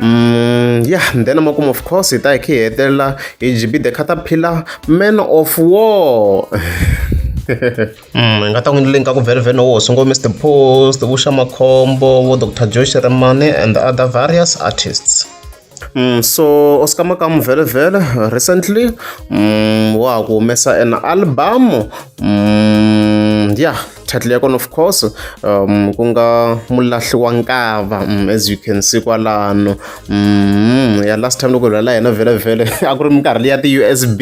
Mm, ya yeah, then makumu of course hi ta hi khe hi hetelela hi gb the caterpillar man of war Mm, nga ta n'wi link ka ku velvene wo sungula mr post vuxa makhombo vo dr josh remane and the other various artists Mm, so oscar makamu velevele recently mm, wa ha ku humesa an album mm, ya yeah. title ya kona of course um, ku nga mulahli wa nkava um, as you can see kwalano um, ya last time loko hi lwela yena vhele vhele a ku ri minkarhi leyi ya ti-usb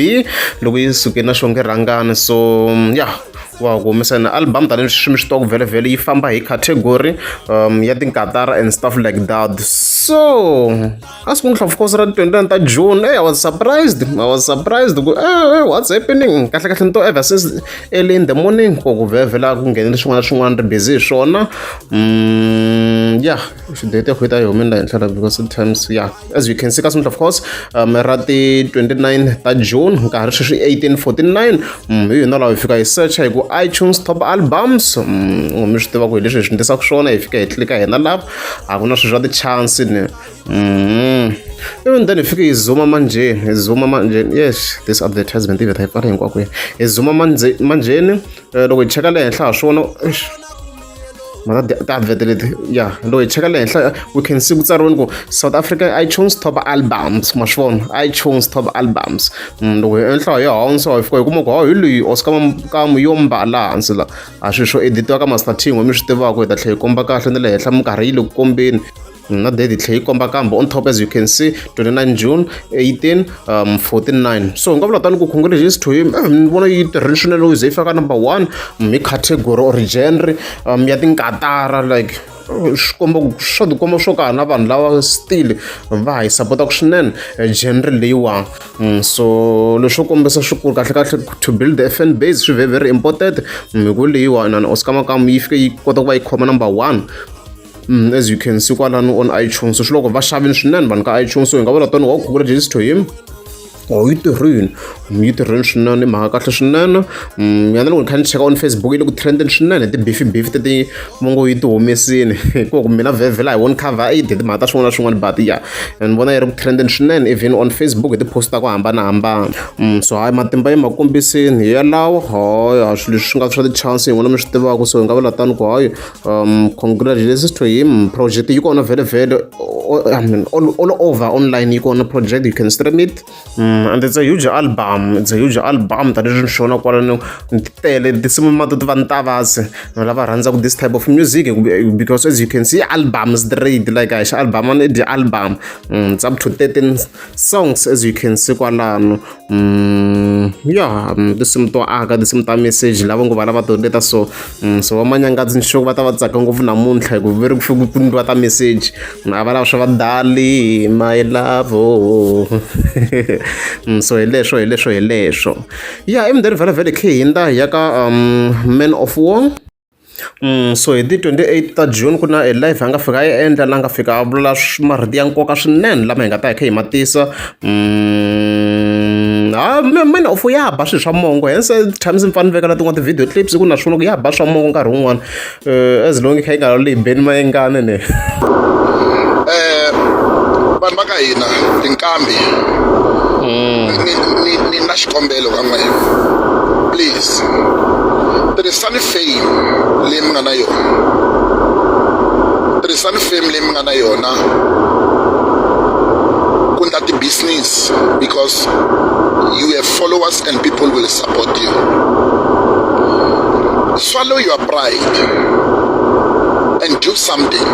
loko yi suke na xonge rhangani so um, ya yeah wa ku humesa na album tanihileswi swi mi swi tiva vhele yi famba hi category um ya tinkatara and stuff like that so a swi n'wi course ra 29 ta june hey, i was surprised i was surprised ku hey, what's happening kahle kahle ni to ever since early in the morning ko ku vhevhela ku nghenele swin'wana na swin'wana ri busy hi swona mm, yeah xidate ya khwita yi humela henhla la because times yeah as you can see ka swi of course um, ra ti 29 ta june nkarhi sweswi 1849 mm, hi yona lawa hi fika hi searcha hi ku itunes top albums mm, mi swi tiva ku hi leswi hi swi ndlisaka swona hi fika hi tlilika hina lava a ku na swilo swa ti-chance ni Mm. Even then ifike izuma manjeni, izuma manjeni. Yes, this advertisement even type are hinkwako ya. Izuma manje manjeni eh, loko hi cheka le henhla ha swona. Mara ta advert leti. Yeah, loko hi cheka le henhla we can see ku tsariweni ku South Africa iTunes top albums, ma swona. iTunes top albums. Mm, loko hi henhla hi hansi hi fika hi kuma ku ha hi loyi Oscar Mkamu yo mbala hansi la. A swi swo editiwa ka Master Team mi swi tivaka hi ta tlhela hi komba kahle ni le henhla minkarhi yi le ku kombeni. na date yi tlhe yi komba kambe on top as you can see 29 june 18 um 49 so hi nga vula tani ku congratulations to him eh, ni vona yi tirhile swinene loko ze yi faka number one um, hi category or genre um, ya tinkatara like swikomba swa tikomba swo ka na vanhu lava still va hi sapotaka swinene eh, genre leyiwani mm, so leswo kombisa swikulu kahle kahle to build the fn base swi very very important mm, hi ku leyiwani and oscar makamu yi fike yi kota ku va yi khoma number one Mm, as you can see kwalano on iTunes swi loko va xavini swinene vanhu ka iTunes so hi nga vula tani wa google just to him or oh, yi tirhini mm, yi tirhini swinene i mhaka kahle swinene mm, yana loko ni kha ni cheka on facebook yi le ku trendeni swinene tibifi bifi teti va ngo yi ti humesini hikuva ku mina vhevhela hi one cover aid hi timhaka ta swin'wana na swin'wana but ya ni vona yi ri ku trendeni swinene even on facebook hi ti-post ta ku hambanahambana mm, so hayi matimba yi ma kombisini hi yalawo hayi ha swilo leswi swi nga swa ti-chance hi n'wina mi swi tivaka so hi nga vula tani ku hayi um congratulations to him project yi kona vele vele I mean, all, all over online yi kona project you can stream it um, and it's a huge album it's a huge album tani swi xona kwalano ni tele tinsimu ma to ti va ni tavasi na lava rhandzaka this type of music because as you can see album straight like a xi album ani dyi album um, it's up to 13 songs as you can see kwalano Mm, ya mm, tinsimu to aka tinsimu ta message lava ngo vana va tondeta so mm, so vamanyangadzi ni xoko va ta va tsaka ngopfu namuntlha hikuva ve ri ku fike ku ndliwa ta message mm, a va lava swa vadali my love oh. mm, so hi leswo hi leswo hi leswo ya emundeni vhela vhele khe hi nda hi ya ka um, man of war so hi ti twenty eight ta June ku na a live a nga fika a yi endla la nga fika a vula marito ya nkoka swinene lama hi nga ta hi kha hi ma tisa ha mina u ya ba swilo swa mongo hence times mi fanele veka na tin'wana ti-video clips ku na swona ku ya ba swa mongo nkarhi wun'wana um as long kha yi nga laleyi beni mayengane ne um vanhu va ka hina tinkambi ni na xikombelo ka n'wehe please tirhisani fame leyi mi nga na yona tirhisani fame leyi mi nga na yona ku ndla ti-business because you have followers and people will support you swallow your pride and do something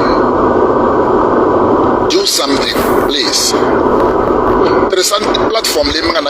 do something please tirhisani platform leyi mi nga na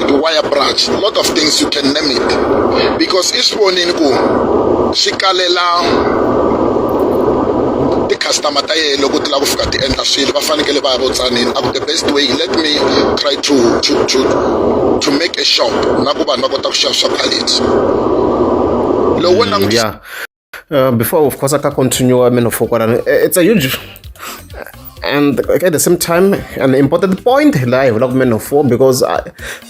the wire branch, a lot of things you can name it. Because each one in ku shikalela customer ta yena loko ti lava ku fika ti endla swilo va fanekele va ya vutsanini a ku the best way let me try to to to to make a shop na ku vanhu va kota ku xava swa quality lowu wena mm, Uh, before, of course, I can continue. I mean, for uh, it's a huge and at the same time an important point la hi vulaka man of war because I,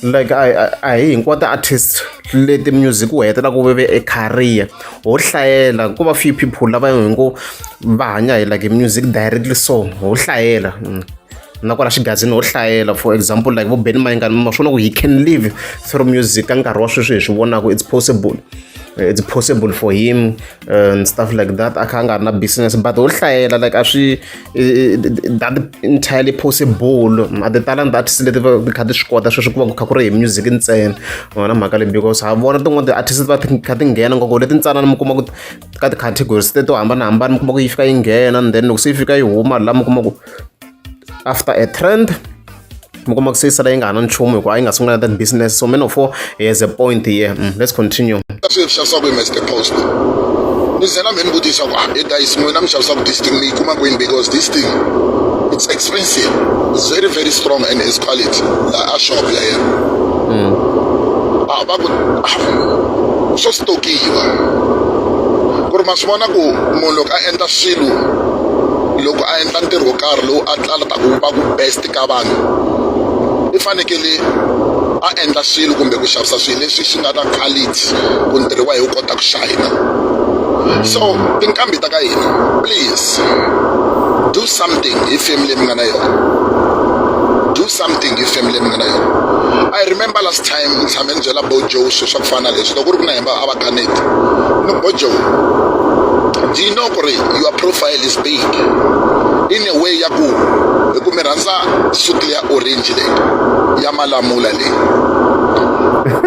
like a hi hinkwato ti-artist leti music u hetelaka u veve e career ho hlayela ku va few people lava hi ngo va hanya hi like music directly so ho hlayela mm. na kwala xigazini ho hlayela for example like vo ben mayingani ma swona ku he can live through music ka nkarhi wa sweswi hi swi vonaka it's possible it's possible for him uh, and stuff like that a kha a nga ri na business but ho hlayela like a swi that entirely possible a ti talent artist leti ti kha ti swi kota sweswi ku va ku kha ku ri hi music ntsena wona mhaka leyi because ha vona tin'wana ti-artist va kha ti nghena ngoko leti ntsanana mi kuma ku ka ti-categories teto hambanahambana mi kuma ku yi fika yi nghena and then loko se yi fika yi huma laha mi kuma ku after a trend mi kuma ku seyisela yi nga ha na nchumu hikuva a yi nga sungula that business so man of war has a point here mm, let's continue swi mi xavisa ku mr post ni zela mi ni vutisa ku ah, e dayisi n'wina mi xavisa ku this thing mi yi kuma kwini because this thing it's expensive it's very very strong and its quality laha a shop ya yena mm. a ah, va ku ah, swo stokiwa ku ri ma swi vona ku munhu loko a endla swilo loko a endla ntirho wo karhi lowu a tlalaka ku va ku best ka vanhu i fanekele a endla swilo kumbe ku xavisa swilo leswi swi nga na quality ku ntirho wa hi wu kota ku shayina so tinqambi ta ka hina please do something hi family leyi mi nga na yona do something hi family leyi mi nga na yona i remember last time ni tshame ni byela bo joe swilo swa ku fana na leswi loko ku ri ku na hemba a va Annet. No, but Joe, do you know Kore, your profile is big? In a way, ya ku, ku mi rhandza suit ya orange le, ya malamula le.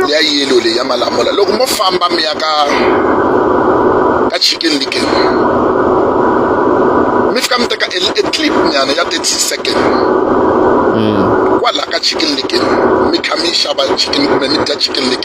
Ya yellow le, ya malamula. Loko mo famba mi ya ka ka chicken licken. Mi fika mi teka a clip nyana ya 30 second. Mm. Kwala ka chicken licken. Mi kha mi xava chicken kumbe mi dya chicken licken.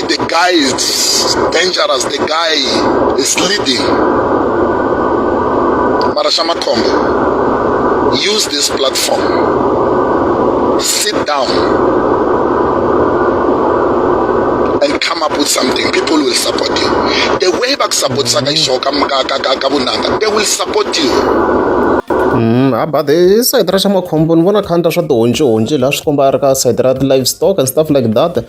the guy is dangerous the guy is leading mara xa makhombo use this platform sit down and come up with something people will support you the way bakusapotisaka xo ka vunanga they will support you Mm, ha but hi sayiti ra xa makhombo ni vona khandla swa tihonci honci laha swi komba a ri ka sayiti ra ti-live stock and stuff like that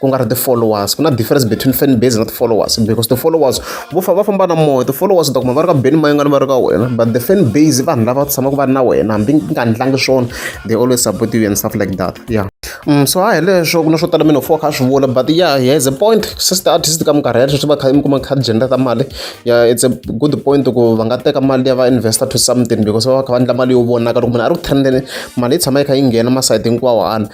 ku nga ri ti-followers ku na difference between fan base na ti-followers because ti-followers vo fa va famba na moya ti-followers u ta kuma va ri ka beni mayingani va ri ka wena but the fan base vanhu lava tshamaka va ri na wena hambi nga ndlangi swona they always support you and stuff like that yeah Mm, so hayi leswo ku na swo tala mina four kha swi vula but yeah he has a point sister artist ka minkarhi ya leswi va kha mi kuma kha gender ta mali yeah it's a good point ku va nga teka mali ya va investor to something because va va kha va endla mali yo vonaka loko munhu a ri ku trendeni mali yi tshama yi kha yi nghena masayiti hinkwawo ana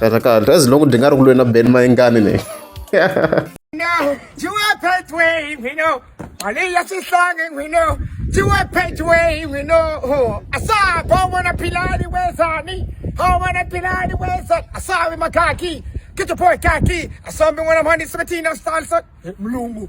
Kahle kahle as long ndzi nga ri ku lweni na Ben Mayengani ni. No, you are pathway, we know. Mali ya xihlangi, we know. You are pathway, we know. Asa, bo wana pilani wezani. Ho wana pilani wezani. Asa, we makaki. Get your boy kaki. Asa, we wana mani 17 of style, so. Mlungu.